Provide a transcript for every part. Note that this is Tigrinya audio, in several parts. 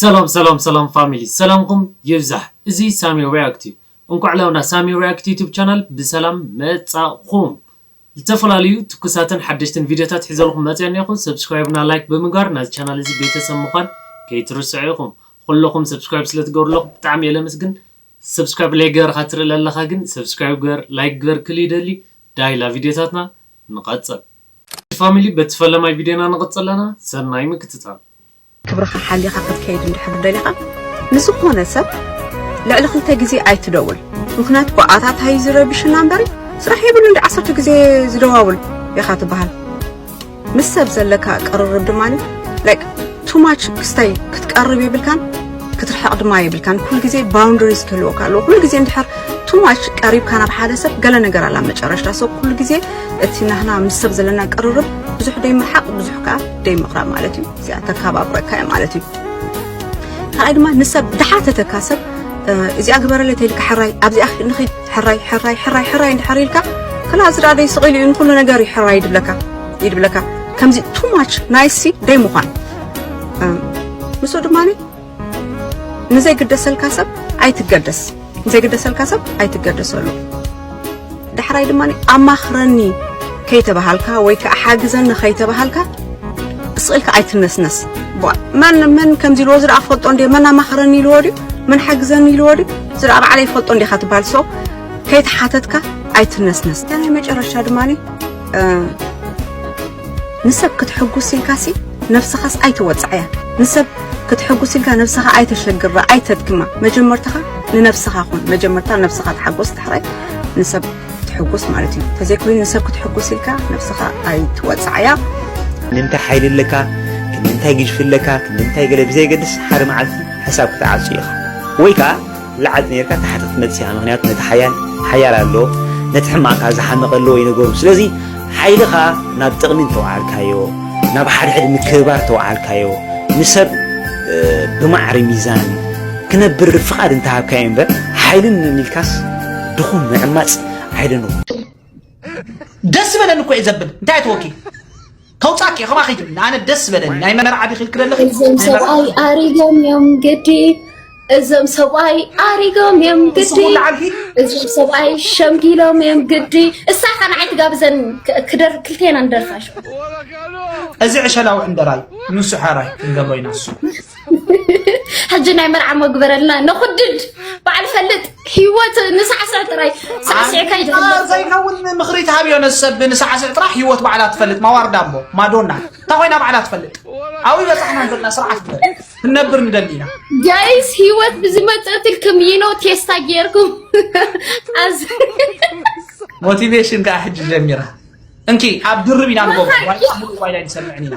ሰላም ሰላም ሰላም ፋሚሊ ሰላምኩም ይብዛሕ እዚ ሳሚ ሪያክት እዩ እንኳዕ ላውና ሳሚ ሪያክት ዩቱብ ቻናል ብሰላም መጻኹም ዝተፈላለዩ ትኩሳትን ሓደሽትን ቪድዮታት ሒዘልኹም መፅየ እኔኹ subscribe እና like ብምግባር ናዚ ቻናል እዚ ቤተሰብ ምዃን ከይትርስዑ ኢኹም ኹሎኹም subscribe ስለትገብሩ ለኹ ብጣዕሚ እየ ለምስግን subscribe ለይገበርኻ ትርኢ ለለኻ ግን subscribe ግበር like ግበር ክል ይደሊ ዳይ ላቪድዮታትና ንቐፅል። ፋሚሊ በቲ ፈለማይ ቪድዮና ንቕፅል ኣለና ሰናይ ምክትታል። ክብርኻ ሓሊኻ ክትከይድ እንድሕር ደሊኻ ንዝኾነ ሰብ ልዕሊ ክልተ ግዜ ኣይትደውል ምኽንያቱ ብኣታታ እዩ ዝረብሽና እምበሪ ስራሕ የብሉ እንዲ ዓሰርተ ግዜ ዝደዋውል ኢኻ ትበሃል ምስ ሰብ ዘለካ ቅርርብ ድማ ላይክ ቱማች ክስታይ ክትቀርብ የብልካን ክትርሕቕ ድማ የብልካን ኩሉ ግዜ ባውንደሪስ ክህልወካ ኣለዎ ኩሉ ግዜ እንድሕር ቱማች ቀሪብካ ናብ ሓደ ሰብ ገለ ነገር ኣላ መጨረሽታ ሰብ ኩሉ ግዜ እቲ ናህና ምስ ሰብ ዘለና ቅርርብ ብዙሕ ደይምርሓቕ ብዙሕ ከዓ ደይ ምቕራብ ማለት እዩ እዚኣ ተተሓባብረካ እያ ማለት እዩ ካልኣይ ድማ ንሰብ ድሓተተካ ሰብ እዚኣ ግበረለይ ተይልካ ሕራይ ኣብዚኣ ንኺድ ሕራይ ሕራይ ሕራይ ሕራይ እንድሕር ኢልካ ከላ እዚ ደኣ ደይ ስቕ ኢሉ እዩ ንኩሉ ነገር እዩ ሕራይ ይድብለካ ይድብለካ ከምዚ ቱ ማች ናይሲ ደይ ምዃን ምስኡ ድማ ንዘይግደሰልካ ሰብ ኣይትገደስ ንዘይግደሰልካ ሰብ ኣይትገደሰሉ ዳሕራይ ድማ ኣማኽረኒ ከይተባሃልካ ወይ ከዓ ሓግዘኒ ከይተባሃልካ ስቕኢልካ ኣይትነስነስ መን መን ከምዚ ኢልዎ ዝረኣ ክፈልጦ እንዲ መን ኣማኽረኒ ኢልዎ ድዩ መን ሓግዘኒ ኢልዎ ድዩ ዝረኣ ባዕለይ ይፈልጦ እንዲኻ ትበሃል ሰው ከይተሓተትካ ኣይትነስነስ ናይ መጨረሻ ድማ ንሰብ ክትሕጉስ ኢልካሲ ነብስኻስ ኣይተወጽዓያ ንሰብ ክትሕጉስ ኢልካ ነብስኻ ኣይተሸግራ ኣይተድክማ መጀመርታኻ ንነብስኻ ኩን መጀመርታ ነብስኻ ተሓጎስ ድሕራይ ንሰብ ትሕጉስ ማለት እዩ ተዘይኮይኑ ንሰብ ክትሕጉስ ኢልካ ነብስኻ ኣይትወጽዓያ ክንደምታይ ሓይሊ ኣለካ ክንደምታይ ግጅፊ ኣለካ ክንደምታይ ገለ ብዘየገድስ ሓደ መዓልቲ ሕሳብ ክትዓጹ ኢኻ ወይ ከዓ ላዕል ኔርካ ታሕቲ ክትመጽእ ኢኻ ምኽንያቱ ነቲ ሓያል ሓያል ኣሎ ነቲ ሕማቕ ከኣ ዝሓመቐ ኣለዎ እዩ ነገሩ ስለዚ ሓይልኻ ናብ ጥቕሚ እንተውዓልካዮ ናብ ሓድሕድ ምክብባር ተውዓልካዮ ንሰብ ብማዕሪ ሚዛን ክነብር ፍቓድ እንተሃብካዮ እምበር ሓይልን ንልካስ ድኹም ምዕማጽ ኣይደንዎ ደስ በለኒ እኮ እዩ ዘብል እንታይ ተወኪ ተውፃኪ እየ ከማኺ ግን ኣነ ደስ ዝበለኒ ናይ መርዓ ዲኺ ኢልኪ ዘለኺ እዞም ናይ መርዓ ሰብኣይ ኣሪጎም እዮም ግዲ እዞም ሰብኣይ ኣሪጎም እዮም ግዲ ንስኹም ለዓልኪ እዞም ሰብኣይ ሸምጊሎም እዮም ግዲ እሳኻ ንዓይ ትጋብዘን ክ- ክደር ክልቴና ንደርፋ ሽዑ እዚ ዕሸላዊ ዕንደራ እዩ ንሱ ሓራይ ክንገብሮ ኢና ንሱ ሕጂ ናይ መርዓ መግበረልና ነኹድድ በዓል ፈልጥ ሂወት ንሳዕስዕ ጥራይ ሳዕስዕ ከይዘይከውን ምኽሪ ትሃብዮ ነሰብ ንሳዕስዕ ጥራሕ ሂወት ባዕላ ትፈልጥ ማዋርዳ እሞ ማዶና እንታ ኮይና ባዕላ ትፈልጥ ኣብይ በፃሕና ዘለና ስርዓት ትበል ክንነብር ንደሊ ኢና ጋይስ ሂወት ብዝመፀትልክም ይኖ ቴስታ ጌርኩም ኣዝ ሞቲቬሽን ከዓ ሕጂ ጀሚራ እንኪ ኣብ ድርብ ኢና ንጎ ዋይላ ንሰምዕን ኢና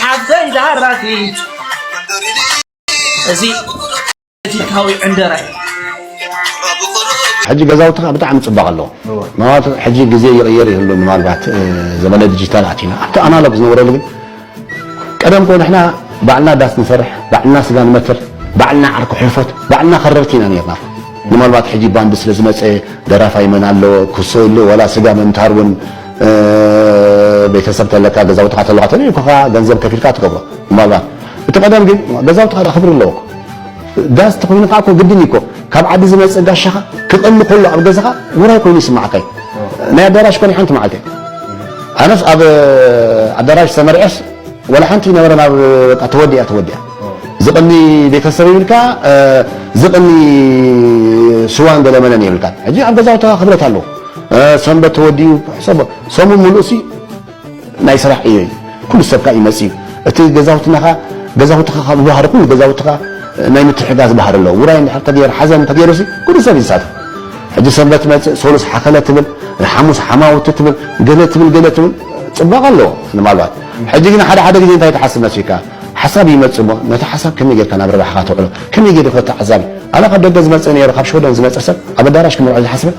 ሓፍተይ ዛራቲ እዚ ፖለቲካዊ ዕንደራ ሕጂ ገዛውትኻ ብጣዕሚ ፅባቕ ኣለዎ ምናልባት ሕጂ ግዜ ይቕየር ይህሉ ምናልባት ዘመነ ዲጂታል ኣቲና ኣብቲ ኣናሎግ ዝነበረሉ ግን ቀደም ኮ ንሕና ባዕልና ዳስ ንሰርሕ ባዕልና ስጋ ንመትር ባዕልና ዓርኩ ሕልፎት ባዕልና ከረርቲ ኢና ነርና ምናልባት ሕጂ ባንዲ ስለ ዝመፀ ደራፋይ መን ኣለዎ ክሶ ኢሉ ዋላ ስጋ ምምታር እውን ቤተሰብ ተለካ ገዛውትኻ ተለካ ተለዩኩኻ ገንዘብ ከፊልካ ትገብሮ ምናልባት እቲ ቀደም ግን ገዛውትኻ ዳ ክብሪ ኣለዎ ዳስ ተኮይኑ ከዓ ግድን እኮ ካብ ዓዲ ዝመፅእ ጋሻኻ ክቕሊ ከሎ ኣብ ገዛኻ ውራይ ኮይኑ ይስማዓካ እዩ ናይ ኣዳራሽ ኮነ ሓንቲ መዓልቲ ኣነስ ኣብ ኣዳራሽ ተመርዐስ ወላ ሓንቲ ነበረ ናብ በቃ ተወዲያ ተወዲያ ዝቕኒ ቤተሰብ ይብልካ ዝቕኒ ስዋን ገለመለን ይብልካ ሕጂ ኣብ ገዛውትኻ ክብረት ኣለዎ ሰንበት ተወዲኡ ሕሰቦ ሰሙን ምሉእሲ ናይ ስራሕ ዕዮ እዩ ኩሉ ሰብ ከዓ ይመፅ እዩ እቲ ገዛውትና ከዓ ገዛውትኻ ካብ ዝባህሪ ኩሉ ገዛውትኻ ናይ ምትሕጋዝ ባህሪ ኣለዎ ውራይ እንድሕር ተገይሩ ሓዘን እንተገይሩሲ ኩሉ ሰብ ይሳተፍ ሕጂ ሰንበት ትመፅእ ሰሉስ ሓኸለ ትብል ሓሙስ ሓማውቲ ትብል ገለ ትብል ገለ ትብል ፅባቐ ኣለዎ ንማልባት ሕጂ ግን ሓደ ሓደ ግዜ እንታይ ትሓስብ መስልካ ሓሳብ ይመፅእ እሞ ነቲ ሓሳብ ከመይ ጌርካ ናብ ረብሓኻ ተውዕሎ ከመይ ጌርካ ተዓዛቢ ኣነ ካብ ደገ ዝመፅእ ነይሩ ካብ ሽወደን ዝመፀ ሰብ ኣብ ኣዳራሽ ክምርዖ ዝሓስበ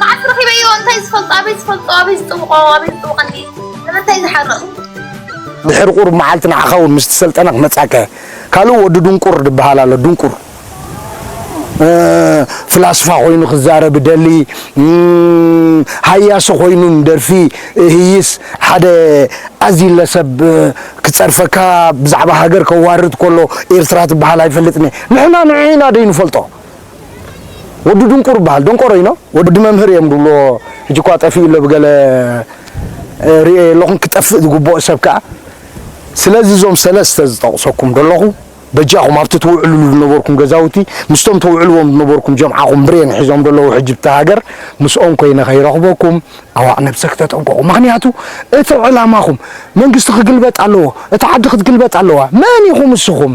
መዓት ረኺበዮ እንታይ ዝፈልጦ ኣበይ ዝፈልጦ ኣበይ ዝጥብቆ ኣበይ ዝጥብቀኒ ንምንታይ ዝሓርቕ ድሕሪ ቁሩብ መዓልቲ ንዓኻ እውን ምስቲ ሰልጠነ ክመጻከ ካልእ ወዲ ድንቁር ድበሃል ኣሎ ድንቁር ፍላስፋ ኮይኑ ክዛረብ ደሊ ሃያሲ ኮይኑ ደርፊ ህይስ ሓደ ኣዚለ ሰብ ክጸርፈካ ብዛዕባ ሃገር ከዋርድ ከሎ ኤርትራ ትበሃል ኣይፈልጥን ንሕና ንዕኢና ደይንፈልጦ ወዲ ድንቁር ይበሃል ደንቆሮ ኢኖ ወዲ መምህር እዮም ድብልዎ ሕጂ እኳ ጠፊኡ ኣሎ ብገለ ርእየ ኣለኹን ክጠፍእ ዝግብኦ ሰብ ከዓ ስለዚ እዞም ሰለስተ ዝጠቕሰኩም ደለኹ በጃኹም ኣብቲ ትውዕልሉ ዝነበርኩም ገዛውቲ ምስቶም ተውዕልዎም ዝነበርኩም ጀምዓኹም ብሬን ሒዞም ደለዉ ሕጂ ብቲ ሃገር ምስኦም ኮይነ ከይረኽበኩም ኣዋዕ ነብሰ ክተጠንቀቑ ምክንያቱ እቲ ዕላማኹም መንግስቲ ክግልበጥ ኣለዎ እቲ ዓዲ ክትግልበጥ ኣለዋ መን ኢኹም እስኹም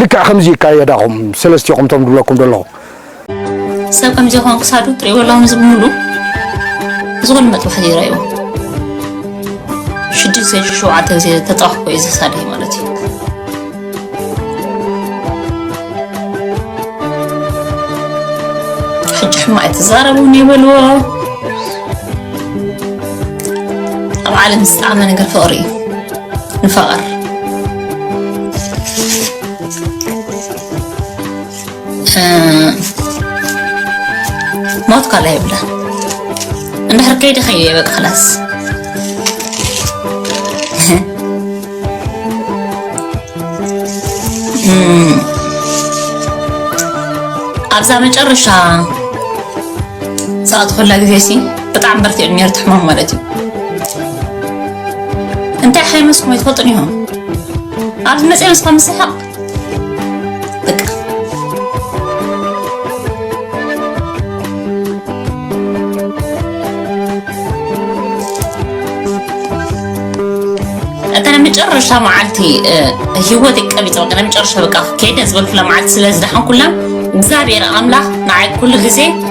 ልክዕ ከምዚ እዩ እካ የዳኹም ሰለስቲኹም ቶም ድብለኩም ደለኹ። ሰብ ከምዚ ይኾን ክሳዱ ትሪእዎ ኣለኹም እዚ ብምሉ እዚ ኩሉ መጥባሕቲ እዩ ረእይዎ ሽዱሽተ ሸውዓተ ግዜ ተጠዋሕኮ እዩ ዘሳደይ ማለት እዩ ሕጂ ሕማቅ ኣይትዛረቡን ይበልዎ ኣብ ዓለም ዝጣዕመ ነገር ፍቅሪ እዩ ንፋቐር ሞት ካላ ይብላ እንድሕር ከይደ ከዩ የበቅ ክላስ ኣብዛ መጨረሻ ሰዓት ኩላ ግዜ ሲ ብጣዕሚ በርቲዑ ነይሩ እቲ ሕማም ማለት እዩ እንታይ ሓይመስኩም ኣይትፈልጡን ኢኹም ኣብዚ መፅአ ምስኻ ምስሓቕ በቃ እታ ናይ መጨረሻ መዓልቲ ህይወት ቀቢፀ በቃ ናይ መጨረሻ በቃ ከይደ ዝበልኩላ መዓልቲ ስለ ዝደሓንኩላ እግዚኣብሔር ኣምላኽ ንዓይ ኩሉ ግዜ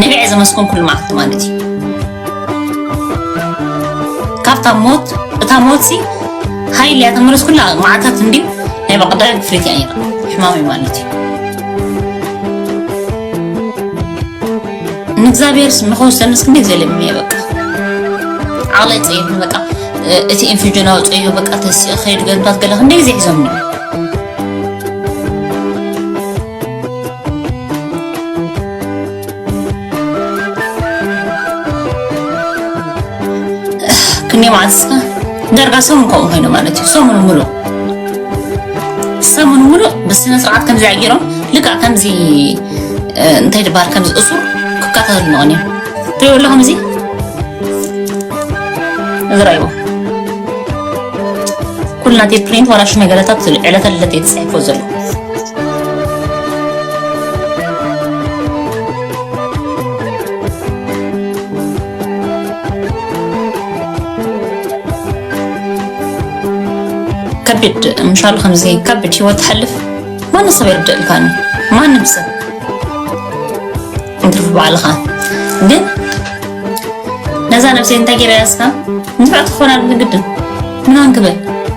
ንብዕ ዝመስኩም ኩሉ መዓልቲ ማለት እዩ ካብታ ሞት እታ ሞት ሲ ሃይል እያ ተመለስ ኩላ መዓልታት እንድዩ ናይ በቐዳዊ ክፍሊት እያ ነይራ ሕማም እዩ ማለት እዩ ንእግዚኣብሔርስ ንኸወሰንስ ክንደይ ዘለሚ እየ በቃ ዓቕለይ ፀይፍ በቃ እቲ ኢንፊጅን ኣውፅዮ በቃ ተሲኦ ከይዱ ገንታት ገለ ክንደይ ጊዜ ሒዞምኒ ክንደይ መዓልቲ ስከ ዳርጋ ሰሙን ከምኡ ኮይኑ ማለት እዩ ሰሙን ሙሉእ ሰሙን ሙሉእ ብስነ ስርዓት ከምዚ ኣጊሮም ልክዕ ከምዚ እንታይ ድበሃል ከምዚ እሱር ክከታተሉ መቐን እዮም ትሪእዎ ኣለኹም እዚ እዚ ረእይዎ ኩልና እቲ ፕሪንት ዋላ ሽመገለታት ዕለተ ልደት እዩ ተፅሒፎ ዘሎ ከቢድ ምሻሉ ከምዚ ከቢድ ሂወት ትሓልፍ ማንም ሰብ የርድእልካኒ ማንም ሰብ እንትርፊ ባዕልኻ ግን ነዛ ነብሰይ እንታይ ገይረ ያስካ ንፍዕቲ ክኾና ግድን ምናን ክብል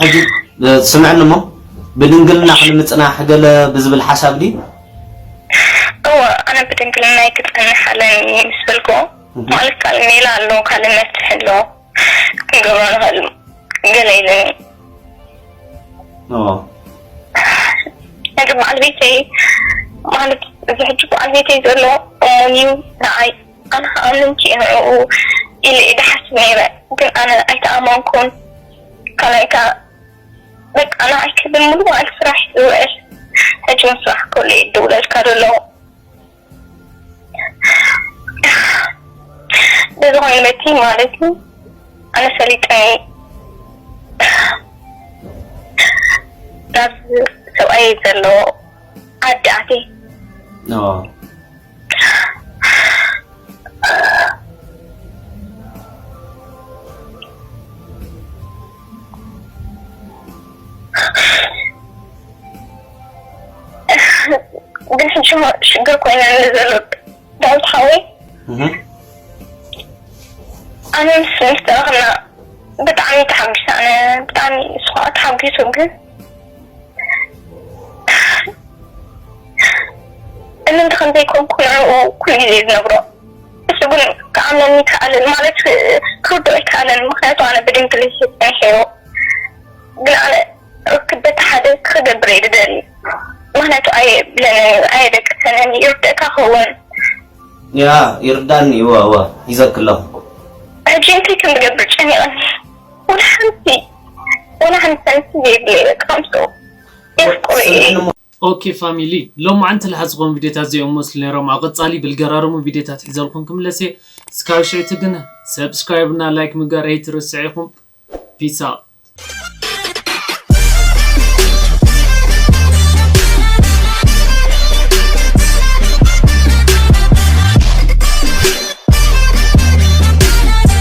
ሕጂ ስምዕኒ እሞ ብድንግልና ክንምጽናሕ ገለ ብዝብል ሓሳብ ድዩ? እወ ኣነ ብድንግልናይ ክጸንሕ ኣለኒ ምስ በልኩ ማለት ካልእ ሜላ ኣሎ ካልእ መፍትሒ ኣሎ ክንገብሮ ንኽእል ገለ ኢሉኒ። እወ። ሕጂ በዓል ቤተይ ማለት እዚ ሕጂ በዓል ቤተይ ዘሎ እሙን እዩ ንዓይ። ኣነ ከኣ ምንጪ ንዕኡ ኢለ እየ ድሓስብ ነይረ ግን ኣነ ኣይተኣመንኩን ካልኣይ ከኣ በቃ ንዓይ ክብል ሙሉእ መዓልቲ ስራሕ እዩ ዝውዕል ሕጂ ውን ስራሕ ከሎ እየ ዝድውለልካ ዘሎ ብዝኮነ በቲ ማለት እዩ ኣነ ፈሊጠ እየ ናብዚ ሰብኣየይ ዘሎ ዓዲ ኣትየ። ግን ሕጂ እሞ ሽግር ኮይነ ዘሎ ዳዊት ሓወይ ኣነ ምስ ምስ ተረኽብና ብጣዕሚ ተሓጒሰ ኣነ ብጣዕሚ ንሱ ከዓ ተሓጒሱ ግን እምንቲ ከም ዘይኮንኩ ንዕኡ ኩሉ ግዜ ዝነግሮ። ንሱ ግን ክኣምነኒ ኣይከኣለን፣ ማለት ክርድኦ ኣይከኣለን፣ ምኽንያቱ ኣነ ብድንግል እየ ጸኒሐዮ። ግን ኣነ ርክብ በቲ ሓደ ክገብር እየ ዝደሊ፣ ምኽንያቱ ኣየብለንን፣ ኣየደቅሰንን፣ ይርድእካ ክወን። ያእ ይርዳኒ እወ እወ ሂዘኪ ኣለኩ። ሕጂ እንታይ ከም ዝገብር ጨኒቀኒ ወላ ሓንቲ ወላ ሓንቲ ሰንቲ ዘይብለይ በቃ ምስኡ የፍቅሮ እየ። ኦኬ ፋሚሊ ሎማዓንቲ ላሓ ዝኮን ቪድዮታት እዚኦም መስሉ ነይሮም ኣብ ቀፃሊ ብልገራርሙ ቪድዮታት ሒዘልኩም ክምለስ እየ እስካብ ሽዕቲ ግን ሰብስክራይብ እና ላይክ ምግባር ኣይትርስዕ ኢኩም ፒስ ኣውት።